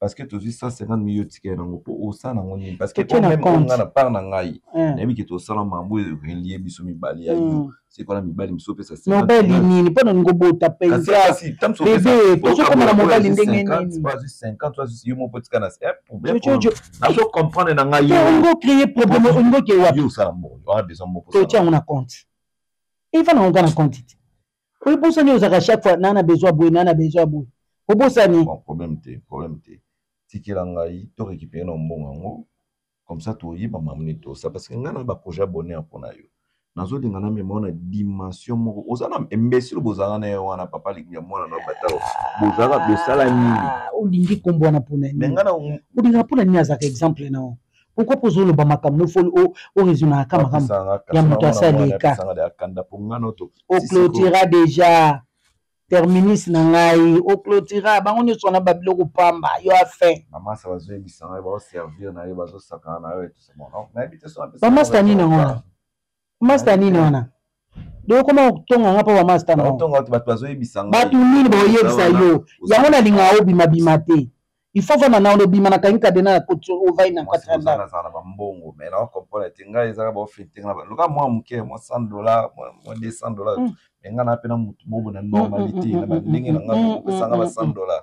parce que tozwi 150 mille otikela nango mpo osala nango nini parce que Totie na omeme compte. nga na part na ngai Eh. nayebi ke tosala mambo relie biso mibale ya yo Mm. sekola mibali mosusu opesa 50 mobali mille. nini mpo na ningo bota Kasi- mpenza kasi, ntango mosusu bebe opesa- tozokoma na oyo mobali azwi ndenge 50, nini oyo azwi 50, oyo azwi- yo moko otika na eh, problème, jojojo nazo comprendre na ngai te yo. ongo créer problème ongo ke wapi Yo osala mbongo, oza besoin mbongo, osala totia yango na compte eva na onga na compte te Oyo bosa nio zaka chaque fois nana besoin boye nana besoin boye. Obosa ni. Bon problème te problème te. Tikela ngai to récupérer na mbongo yango comme ça to yeba mamni to ça parce que ngai na ba projet abonné en pona yo. Nazo linga na mema na dimension moko. Oza na imbécile bozanga na yo wana papa linga mwana na bata. Bozanga bosala nini? Olingi kombo wana pona nini? Mais ngai na olinga pona nini azaka exemple na yo? pourquoi mpo ozoloba makambo nofoli oraisonaka makambo ya moto asaleka oclotira déjà terminus na ngai oclotira bango nyonso wana babiloko pamba yo afin bamasta nini yango wana masta Aye nini te. wana donc okoma kotonga nga mpo bamasta na yango Baotonga bato bato bazoyebisa ngai. bato nini baoyebisa Wana, yo oza- yango nalinga obimabima te ifo ofanda nao nobima na kangi kadena na koti ovai na Mwasi kozala katranda azala na bambongo mais na comprendre te ngai ezaka baofete nga loka mwa moke mwa 100 dollar mwa mwa 200 dollar Mm. mais nga na mpe na motu bobo na Mm, mm, mm, normalité mm, na mm, bandenge na nga mm, mm, kopesanga ba mm, 100 dollar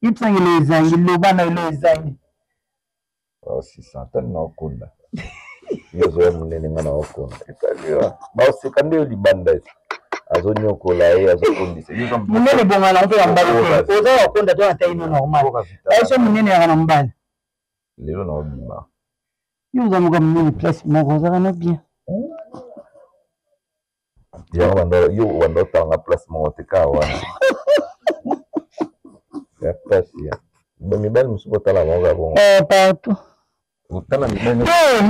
Ipsangelo ezangi loba na elo ezangi. Oh, si santani na okonda. Yo zoya munene nga na okonda. Etaliwa. Ba oseka nde yo libanda esi. Azo nyokola ye, azo kondisa. Munene bonga na mpe ya mbali. Oza ya okonda to na taille no normal. Aisha munene ya na mbali. Lelo na obima. Yo oza moka munene place moko ozaka na bien. Hmm? yango banda yo banda otanga place moko te kaka wana ya pasi ya mibali mosusu botala bango kaka bongo eh, partout otala mibali eh,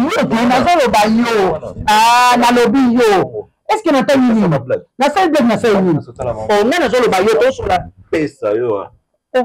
nazoloba yo ah, nalobi yo est ce que natali nini nasali blake nasali nini oh, ngai nazoloba yo tosola pesa yo ah. eh.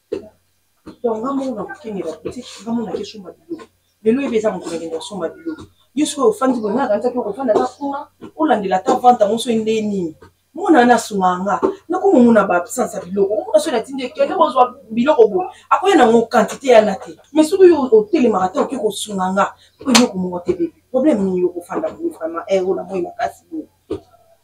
donc nga moko nakokenge ba boutique nga moko nake somba biloko lelo yebe eza moto nakende kosomba biloko yo sikoyo ofandi boye nga nakanisaki okofanda ata kuna olandela ata vante yango soki nde nini mwana wana asungaka nga nakomomona ba absence ya biloko omona soki natindi ekende kozwa biloko boye akoya nango quantité yana te mais soki yo otelemaka te oke kosunga nga po eloko moko te bebe problème nini yo kofanda boye vraiment ero na moi makasi boye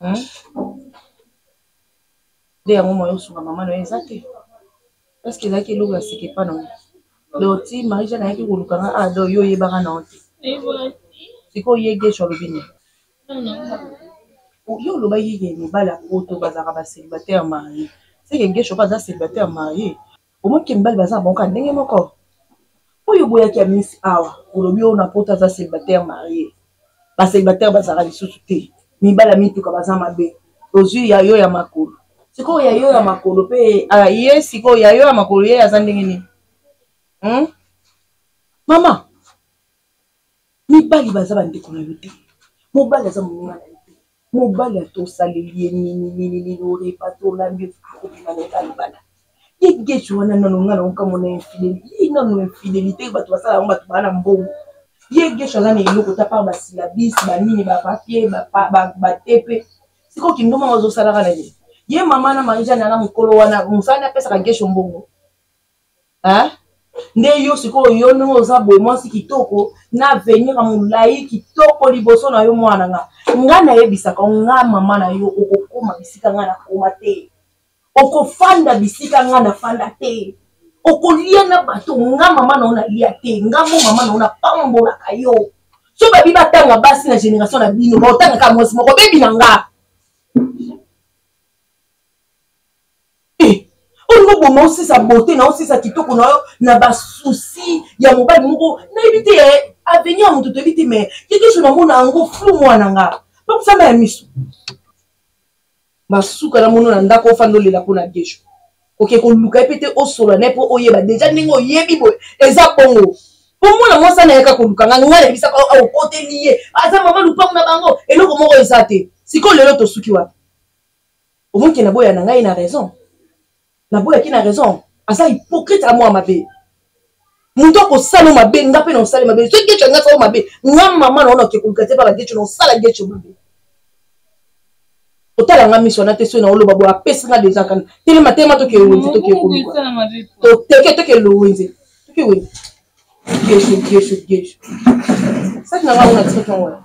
Hein? Nde yango moyen osunga mama na yo eza te. Est-ce que ezalaki eloko ya sika epa na yo? Donc ti Marie-Jeanne ayaki koluka nga ah donc yo oyebaka na yo te. Sikoyo ye Guesho alobi nini? Yo olobaki ke mibali ya poto bazalaka ba celibataire marie. Seke Guesho pe aza celibataire marie? omoni ke mibali baza na bango kaka ndenge moko oyo boyaki ya misi awa olobi oyo na poto aza célibataire marie bacélibataire bazalaka lisusu te mibali ya mituka baza mabe ozwi ya yo ya makolo sikoyo ya yo ya makolo mpe ah, ye sikoyo ya yo ya makolo ye aza ndenge nini hmm? mama mibali baza bandeko na yo te mobali aza moninga na yo Mobali ata osaleli ye nini nini nini orepa to olambi akobima na eka libala. Ye Gecho wana nano nga nao kamwa na infidelite. Ye nano infidelite bato basala yango bato baa na mbongo. Ye Gecho aza na eloko te apart ba syllabis ba nini ba papier ba tepe. Sikoyo kindumba ngo azo sala wana nini? Ye mama na Marie-Jeanne wana mukolo wana musala nde apesaka Gecho mbongo? hein nde yo sikoyo yo ndenge oza boye mwasi kitoko na avenir ya molai kitoko liboso na yo mwana nga nga nayebisaka nga mama na yo okokoma bisika nga nakoma te okofanda bisika nga nafanda te okolia na bato nga mama na yo nalia te nga mo mama na yo napambolaka yo so babi batanga basi na génération na bino baotangaka mwasi moko bebi na nga Eh, olingi oboma osisa bote na osisa kitoko na yo na basusi ya mobali moko nayebi te eh, avenir ya moto toyebi te mai yekeso namona yango flou mwana nga bakusama ya miso masuka namono na ndako ofanda olela mpo na gesho oke koluka ye mpe te osola na ye mpo oyeba deja ndenge oyebi boye eza bongo mpo mwana mwasi anayaka koluka nga ngai nayebisaka okoteli ye aza mama lupango na bango eloko moko eza te sikoyo lelo tosuki wapi omoni ke naboya na ngai na raison naboyaki na raison aza hypocrite amwa mabe moto akosala o mabe nga mpe na osali mabe soki geco yanga asala o mabe nga mama na ona oke koluka te baka geco na osala geco mabe otala nga miso wana te soki naoloba boye apesi nga deja kana telema telema toke wenze toke koluka toteke toke lowenze toke wenze geco geco geco saki na nga ona tiki tongo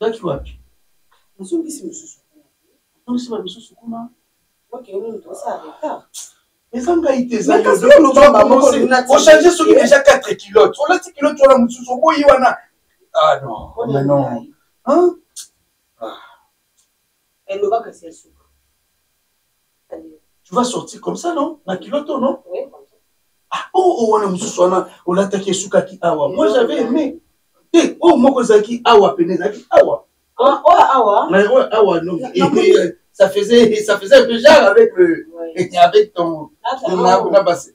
Ozalaki wapi? Nazongisi misusu kuna. Nazongisi ba misusu kuna. Ok, on est dans ça retard. eza ngai te ezayochange soki deja 4 kilote olati kilote wana mosusu oboyi wana ah non mais non Elle loba kasi ya suka. Tu vas sortir comme ça non? Na culotte non? Oui, comme ça. Ah oh oh wana mususu wana olataki esukaki awa. Moi j'avais aimé. Te oh moko ezalaki awa pene ezalaki awa. Ah oh awa. Mais oh awa non. Et puis ça faisait ça faisait un peu genre avec le ouais. avec ton na na basi.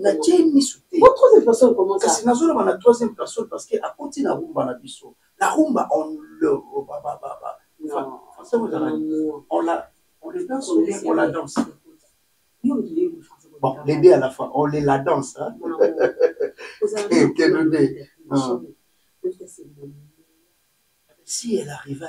natie misu te kasi nazoloba na troisième personne parce que akoti na rumba na biso na rumba on le on le danse on la danse bon les deux à la fois on les la danse hein si elle arriva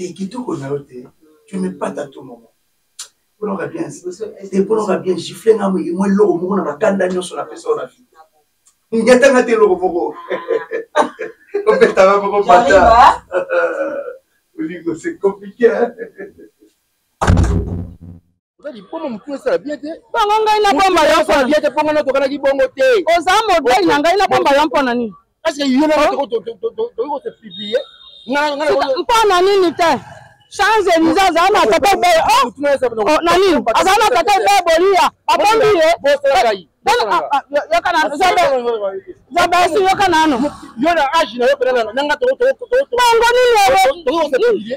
Eh, kitoko na yo te tu me pata tout moment polonga bien te polonga bien gifle nga moye mwa eloko moko na bakanda nyonso na pesa na vie ngetanga te eloko moko opetanga moko pata olingo c'est compliqué oza liboma motu esala bien te bongo ngai nabomba yo mpona bien te mpo ngai natokanaki bongo te oza modele na ngai nabomba yo mpona nini parceke yo na oh. tokoki kose publie mpona nini te change elize azala na tata ebe oh. oh, na nini azala na tata ebe boliya abombi ye zabasi yoka nano bongo nini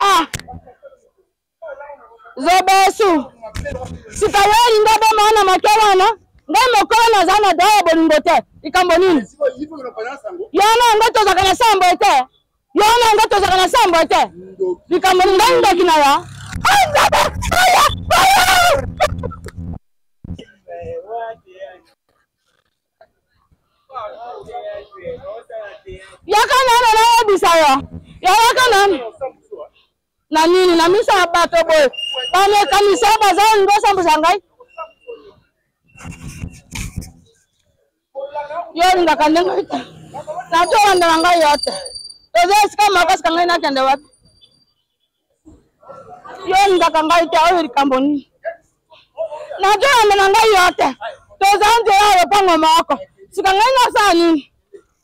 ah zobesu sika yo olingi oboma wana moke wana ngai mokolo naza na dra ya bolingo te likambo nini yo na yango tozalaka na sambo te yo na yango tozalaka na sambo te likambo nini ngai ndoki na ya yaka nano nayebisa yo yayaka nano na nini na miso ya bato boye bamekanisa baza olingi osambwisa ngai yo olingaka ndenge te nato olanda na ngai yo te toza esika makasi ka ngai nakende wapi yo olingaka ngai te oyo likambo nini nazoyambe na ngai yo te toza nzela ya lopango moko sika ngai nasala nini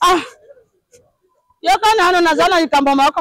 ah yoka nano naza na likambo moko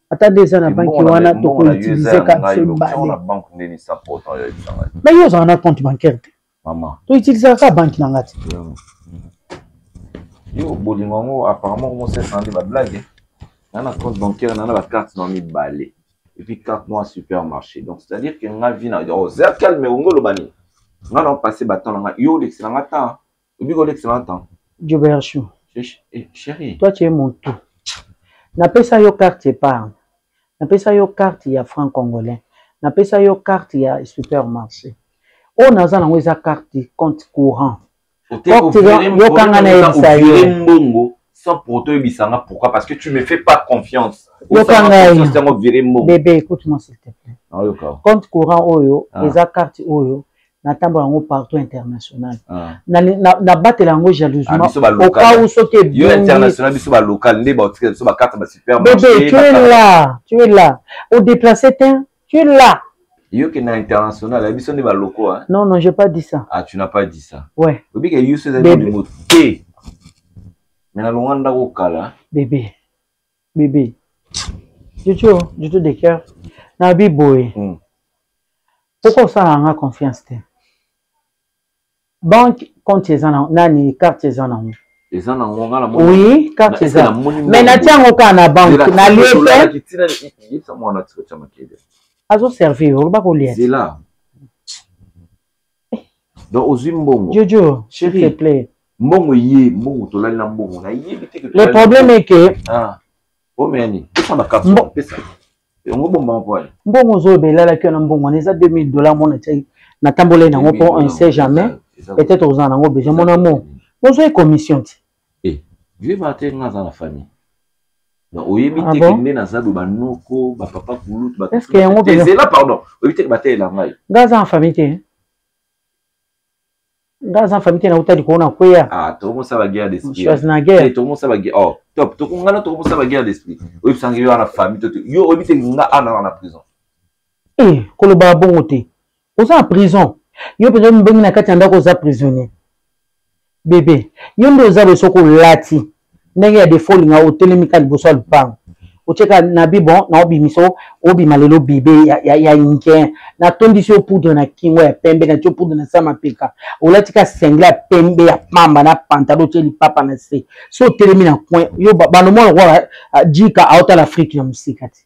ata nde eza na banki wana tokoutilize kati mibale me yo ozala na compte bancaire te toutilisaka kaka banki na nga te yo bolingo yango apparemment omosesa nde bablage na na compte bancaire na na bacarte na mibale epuis carte noa supermarché donc c'est à dire que nga vi na oza calme ongo oloba nini nga na opase batemp na nga yo olekisela nga temps obi kolekisa na temps joberchou eh, chérie toi tu es mon tout napesa yo carte épargne napesa yo carte ya franc congolais napesa yo carte ya supermarché oyo naza nango eza carte compte courant yokanga nayebisa yo mbongo sans pour autant yebisa nga pourquoi parce que tu me fais pas confiance yokanga bebe écoute moi s'il te plaît compte courant oyo ah. eza carte oyo natambola yango partout international ah. nabatela yango jalousiementokau ah, soki ebonibebe tu es là tu es là odeplace te tu es là yo ke na international ya biso nde baloko hein? non non j'ai pas dit ça ah tu n'as pas dit ça ouais obi ke yo seza de moto te mais na longa ndako kala bébé bebe jojo jojo de cœur na bi boye mm. pourquoi osalaka nga confiance te banque compte eza na nani carte eza nango eza nango nga na oui carte eza mais natia yango kaka na banque nalie te azoservir oloba kolia donc ozwi mbongo jojo chérie plaît mbongo ye mbongo tolali na mbongo na yebi te le problème est que ah omeya nini pesa na cap pesa yango bomba mpo ani mbongo ozoloba elalaki wana mbongo wana eza 2000 dollars mona tiaki natambolai nango mpo on sait jamais peut-être ozala nango besoin mona mo ozwai commission ti Eh, vieux Martin nga aza na famille. Donc oyebi Ah te bon? que nde naza do ba noko, ba papa kulutu, ba Est-ce que yango Eh, mpenza- zela pardon. Oyebi te que batelela ngai. nga aza na famille te nga aza na famille te nauta likolo na kweya Ah, tokomo sa ba guerre d'esprit. schwarzenegger Eh, tokomo sa ba guerre. Oh, top. Tokomo ngana tokomo sa ba guerre d'esprit. Oyebi sanga yo na famille to te. Yo oyebi te que nga ana na prison. Eh, koloba bongo te oza na prison yo mpenza mibongi na kati ya ndako oza prisonnier bebe yo nde oza boye soki olati ndenge ya defo olinga otelemi ka liboso ya lupango otyeka na bibon na obimisa obima lelo bebe ya, ya, ya inken natondisi yo poudre na kingo ya pembe na tyo poudre na sa mapeka olati ka sengle ya pembe ya pamba na pantalo otye lipapa na se so otelemi na coin yo banomona lokola ah, jika aotala afrike na mosika te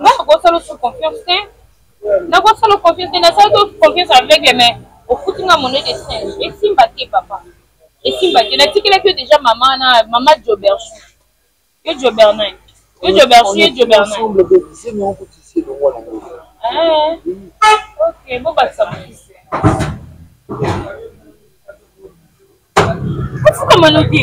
nga nakosala osu confiance te nakosala confiance te nasalaki osu confiance aveugle mais ofuti nga monet de singe esimba te papa esimba te natikelaki yo deja mama na mama joberchu yo jobernin yo joberchu ye jobernin ok bobakisa mokisi ofukamano te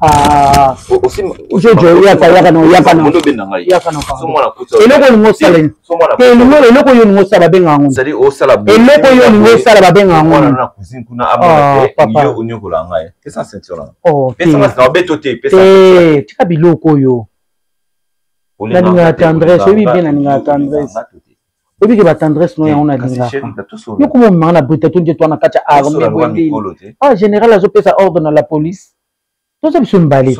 Ah. jojo yaka yaka na yaka na yaka na eloko olingi osala te elingo eloko oyo olingi osala babenga yango eloko oyo olingi osala babenga yango tika biloko oyo nalingaka tendresse oyebi bien nalingaka tendresse oyebi ke ba tendresse no yango na lingaka yo kuma omemaka na britato nde twana kati ya arme boyendini ah général azopesa ordre na la police toza biso mibale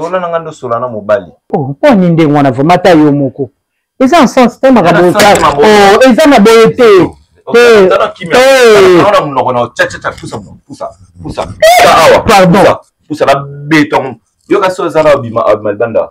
oh, mpo ani ndenge wana vraimen ata yo moko eza en sens te makambo oh, eza na boye te pardon yoka so eza na obima obima libanda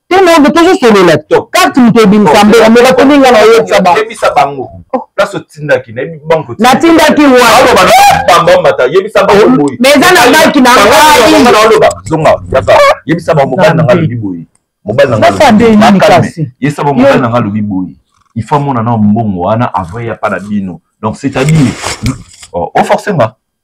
tena tozo solola to carte moto ebimisa mbela mbela komi nga nayebisa ba yebisa bango oh. place otindaki nayebi banko natindaki waaloba bamba mata yebisa bango oh, boye mais eza na baki na ngaialoba zonga yaka yebisa bango mobali na nga lobi boye mobali na nga yebisa bango mobali na nga lobi boye il faut amona na mbongo wana avant ya pa na bino donc c'est à dire oforce oh, nga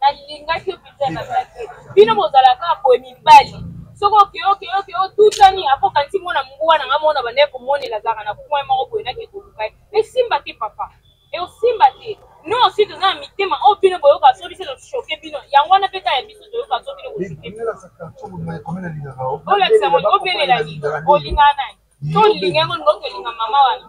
nalingaki yo pizza na baki bino bozalaka boye mibali soki okeokeoke otutani apo kanisi mwana mbwa na nga mona bandaki komonela azalaka na kue moko boye nake koluka ye esimba te papa eosimba te no osi toza na mitema oyo bino boyoka soki biso toshoke bino yango wana mpe ta ya biso toyoka so bino olakisa ngo obelela nini olingana nani so olinga yango ndoki olinga mama wana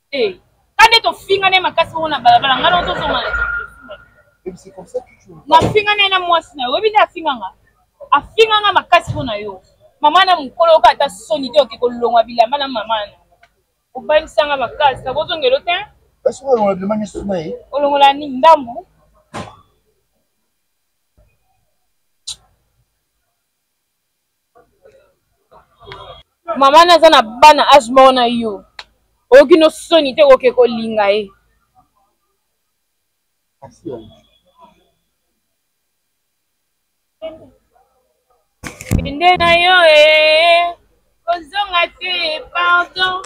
te kande tofingana ye makasi bongo na balabala ngai nao tozonga nafingana ye na mwasi na yo oyebi nde afinganga afinganga makasi mpo na yo mama na mokolo oyoka ata soni te oke kolongwa bilamba na mama na obanisanga makasi nakozongelo te olongola nini ndambu mama na aza na bana age moko na yo oyoki no soni te okoke kolinga ye kende na yo e kozonga te pardon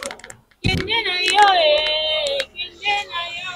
kende na yo e kende na yo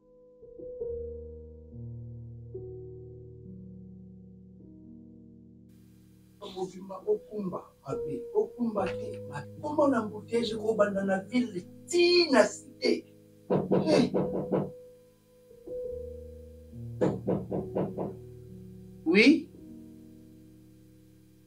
okumba mabe okumba te makombo na mbutege kobanda na ville ti na site oui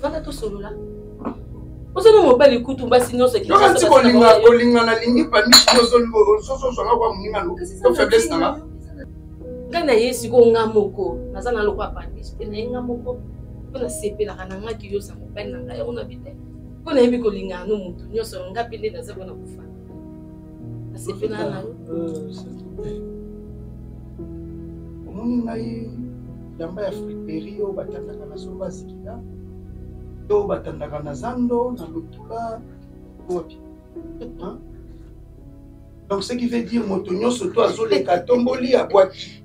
Vanda tosolola. Oza na mobali kutu basi nyonso ki. Yoka ti kolinga kolinga na lingi pami ozo ozo ozo na kwa muninga no. To faiblesse na nga. Nga na ye siko nga moko. Naza na lokwa pami. Pe na nga moko. Pe na sepelaka na nga ki yo sa mobali na nga yango na bite. Mpo nayebi kolingana no motu nyonso nga mpe nde naza mpona kofana asepela na yo omoni ngai bilamba ya friperi oyo batandaka na somba zikila to batandaka na zando na lotula wapi donc ce qui veut dire moto nyonso to azoleka tomboli abwaki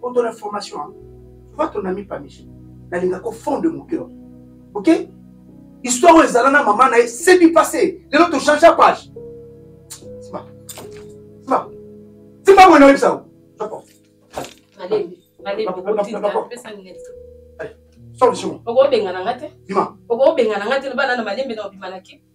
pour ton information hein. tu vois ton ami pamiche nalingaka au fond de mon cœur ok histoire oyo ezala na mama na ye c'est du passé lelo tochange ya page sima sima sima boye nayebisa yo soko solution okobengana nga te okobengana nga te loba nana malembe na obima na kipe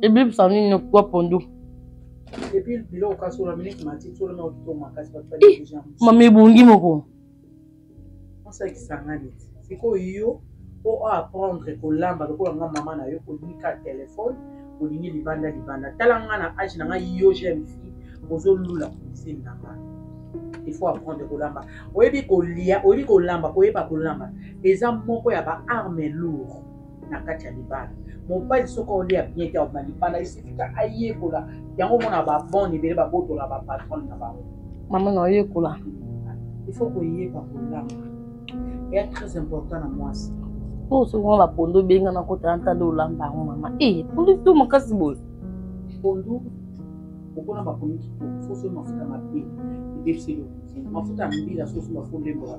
ebebisa nini nokwa pondu mama ebongi moko sikoyo yo po oapprendre kolamba lokola nga mama na yo olingi ka telefone olingi libanda libanda tala nga na age na nga yo jeune fille ozolula komiseni na nga il faut apprendre kolamba oyebi kolia oyebi kolamba koyeba kolamba eza moko ya baarme lourd na kati ya libala mobali soki olia bien te aoma libala esifika ayekola yango omona babone ebele babotola bapatron na bango mama na oyekola il faut koyeba kolamba eya très important na mwasi po soki wana pondu obenga na kota ya ntanda olamba yango mama e eh, pondu to makasi boye pondu okona bakomi kitoko soso mafuta mabe ebebiseli mafuta ya mbila soso mafuta olembola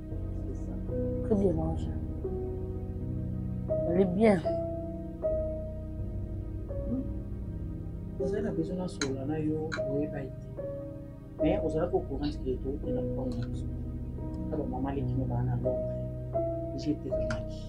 Très bien mangé. Elle est bien. ozali na besoin nasolola na yo oyeba ye te mais ozalaki ocourant ke tookenda mokolo na biso na bamama leki mobaa na londre jetekinaki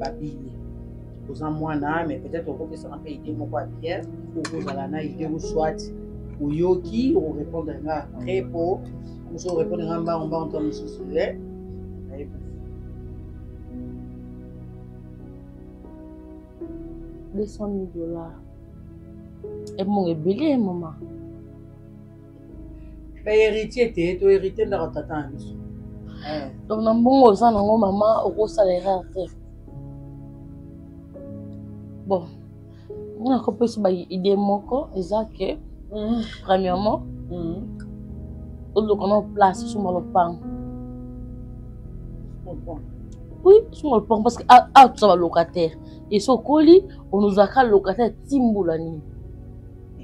babini oza mwana mais peut-être okopesaka mpe idée moko ya bien okozala na idée ou soit oyoki okorépondre nga après mpo mosu orépondre nga mbango mbango ntango mosusu e deux cent mille dollars ebongo ebele mama baheritier te to héritier ndako tata na biso eh. donc na mbongo oza nango mama okosala erreur te bon nga nakopesa baide moko eza ke mm. premièrement mm. oluka na place suma lopango oui suma lopango parce que awa ah, ah, toza balocataire esi okoli onozalaka locataire timbula nini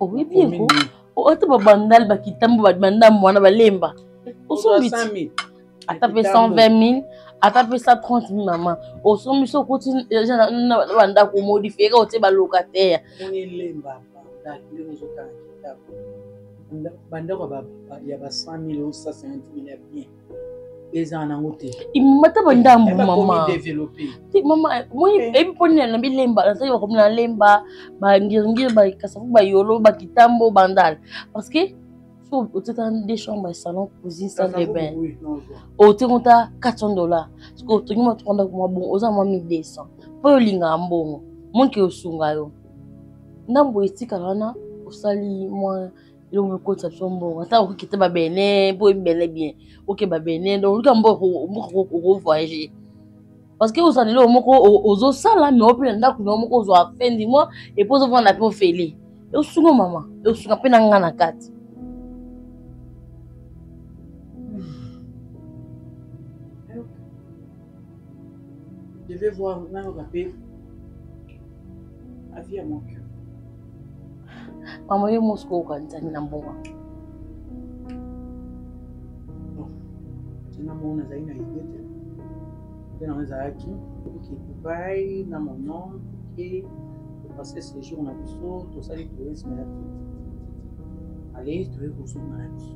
oyebi eko ata babandal bakitambo babanda mwana balemba osombi ata mpe 120000 ata mpe 130000 mama osombi so okoti eh, na bandako modifie kaka otie balocataire bandako ya ba 100000 o 65000 ya bien ezala nango te imata bandambu mama mama moi eyebi mpo nini nabi lemba nazali bakomi na lemba bangiringiri bakasafu bayolo bakitambo bandala parce que so otika nde chambre ya salon cuisine salle de bain otika ota 400 dollars siko otongi mwa 3 ndako mwa bongo oza mwa 1200 mpo olingaka mbongo monke osunga yo ndambo etikala wana osali mwa yo mokotisa biso mbongo ata okokita babene mpo oyebi bene bien okeba bene donc oluka mbongo okovoyage parce que ozala eloko moko ozosala me ope na ndako na yo moko ozwa fin du mois epo ozovanda mpe ofele eosunga mama eosunga mpe na nga na kati Je vais voir nano bape avis ya mon cœur. Mama yo mosiko okanzani na mbongo. Tena mona nazali na idée te. Tena nazalaki oke Dubai na mon oncle et parce que séjour na biso tosali tourisme ya tout. Ale toyei kozonga na biso.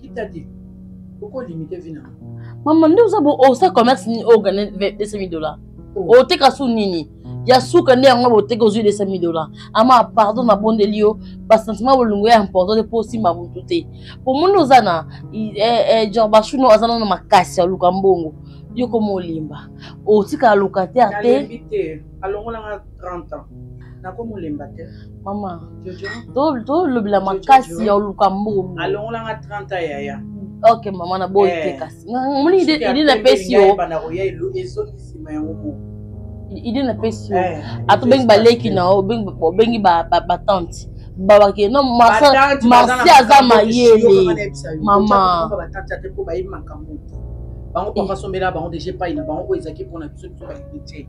Kitadi, oko limite vie na Maman, nde oza bo osa commerce ni oga 2000 dollars. Oh. Oteka su nini? ya suka nde yango boteki ozwi 200 dollars ama pardon nabondeli yo basentiment bolingo ya important te mpo osimba motu te mpo moni oza na genre bashuno aza nano makasi ya luka mbongo yo koma olimba otikala locataire te 30 ans nakomolemba te mama tolobela makasi ya oluka mbongo alongolanga 30 ans yaya ok mama na boyi te eh. kasi omoni ide napesi yo ide napesi yo eh, ata obengi baleki na yo obengi batante babake no marsi aza mayele mama bango papa sombela bango deja epai na bango oyo ezalaki mpona biso biso baye te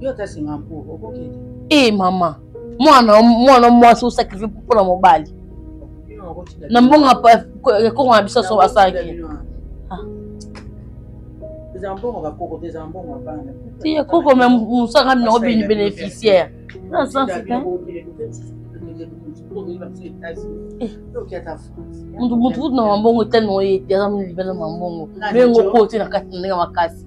yo ata senga mpo okokende ee eh, mama mwana mwana mwasi osakrifie mpo na mobali na mbongo ekoko na biso so asalaki ti ekoko me mosaka minango bini bénéficiaire na sense te mutu kutu na mambongo etani oyo ete aza mibele na mambongo me ngoko te na kati na ndenge makasi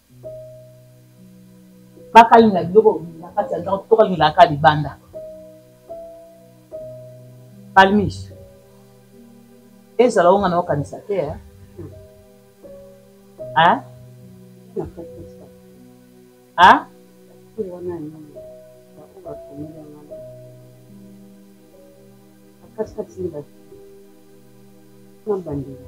Bakali na biloko na kati ya ndako to kali na kati libanda. Palmis. Ezala onga na okanisa te hein. Hein? Hein? Kati kati ni ba. Nambandela.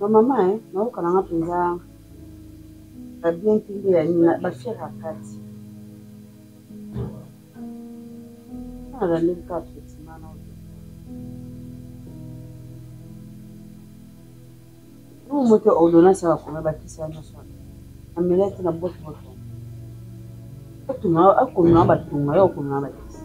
Ma mama eh naoka na nga mpenza ba bien te nde ya nini ba fier ya kati na landeli kaka traitement na oyo moto ya ordonnance ya bakoma bakisi ya nyonso wana amelaki na boto boto akomema batonga yo akomema bakisi